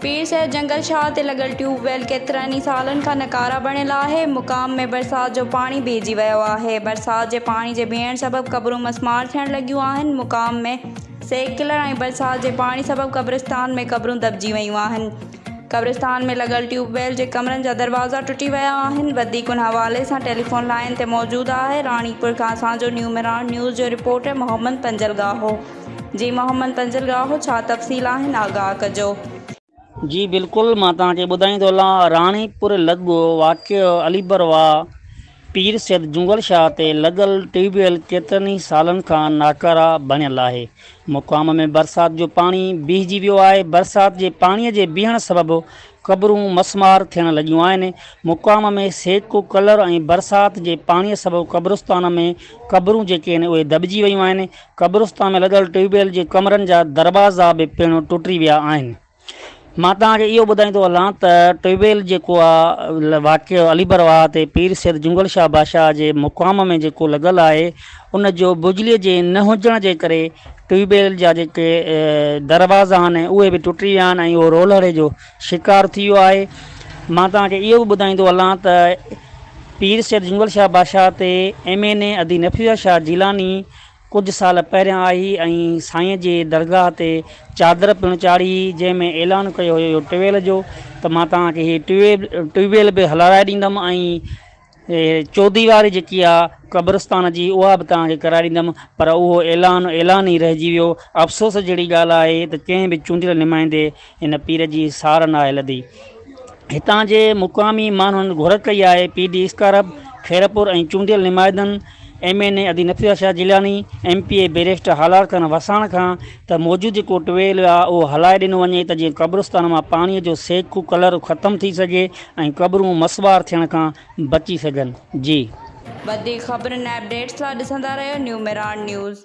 پير صاحب جنگل شاهه تي لڳل ٽيوب ويل ڪيترن ئي سالن کان نڪارا بڻيل آهي. مقام ۾ برسات جو پاڻي بيهجي ويو آهي. برسات جي پاڻي جي بيهڻ سبب قبرون مسمار ٿيڻ لڳيون آهن. مقام ۾ سيڪلر ۽ برسات جي پاڻي سبب قبرستان ۾ قبرون دٻجي ويون آهن. قبرستان ۾ لڳل ٽيوب ويل جي ڪمرن جا دروازا ٽٽي ويا آهن. وڌيڪ ان حوالي سان ٽيليفون لائين تي موجود آهي راڻيپور کان اسان جو نيو مهراڻ نيوز جو رپورٽر محمد پنجل ڳاهو. جي محمد تنزل گاهو ڇا تفصيل آهن آگاهه ڪجو. جي بلڪل مان توهان کي ٻڌائين ٿو هلان راڻي پور لڳ واقع علي بروا پير سيد جونگل شاهه تي لڳل ٽيوب ويل ڪيترن ئي سالن کان ناڪاره بڻيل آهي مقام ۾ برسات جو پاڻي بيهجي ويو آهي برسات جي پاڻي جي بيهڻ سبب قبرون مسمار ٿيڻ لڳيون آهن مقام ۾ سيڪ ڪلر ۽ برسات جي پاڻي سبب قبرستان ۾ قبرون جيڪي آهن اهي دٻجي ويون آهن قبرستان ۾ لڳل ٽيوب ويل جي ڪمرن جا دروازا به پڻ ٽٽي ويا آهن. مان توهان کي اهو ٻڌائيندو هلان ته ٽيوب ويل جيڪو آ واقع علي بر واهه تي پير سيد جنگل شاهه بادشاهه جي مقام ۾ جيڪو لڳل آهي ان جو بجلي جي نه هجڻ جي ڪري ٽيوب ويل جا جيڪي دروازا آهن اهي به ٽٽي ويا آهن ۽ اهو رولهڙي جو شڪار ٿي ويو آهي. مان توهان کي اهو به ٻڌائيندو هلان ته پير سيد جنگل شاهه بادشاهه تي ايم اين اي ادي نفيس شاهه جيلاني ڪجهه سال پهريان آئي ۽ سائين جي درگاهه تي چادر پڻ چاڙهي هئي، جنهن ۾ اعلان ڪيو هيو ٽيويل جو ته مان توهان کي هي ٽيو ويل به هلارائي ڏيندم ۽ چوديواري جيڪي آهي قبرستان جي اها به توهان کي ڪرائي ڏيندم پر اهو اعلان اعلان ئي رهجي ويو. افسوس جهڙي ڳالهه آهي ته ڪنهن به چونڊيل نمائندي ان پير جي سار ناهي لڌي. هتان جي مقامي ماڻهن گهر ڪئي آهي پي ڊي اسڪارب خيرپور ۽ چونڊيل نمائدن ايم اين اي ادي Nafisa Shah Jilani, M P A barrister Halar Khan Wassan کان ته موجود جيڪو ٽويل آهي اهو هلائي ڏنو وڃي ته جيئن قبرستان مان پاڻي جو سيڪو ڪلر ختم ٿي سگهي ۽ قبرون مسوار ٿيڻ کان بچي سگهن. جي. وڌيڪ خبرن ۽ اپڊيٽس لا ڏسندا رهيو نيو ميراڻ نيوز.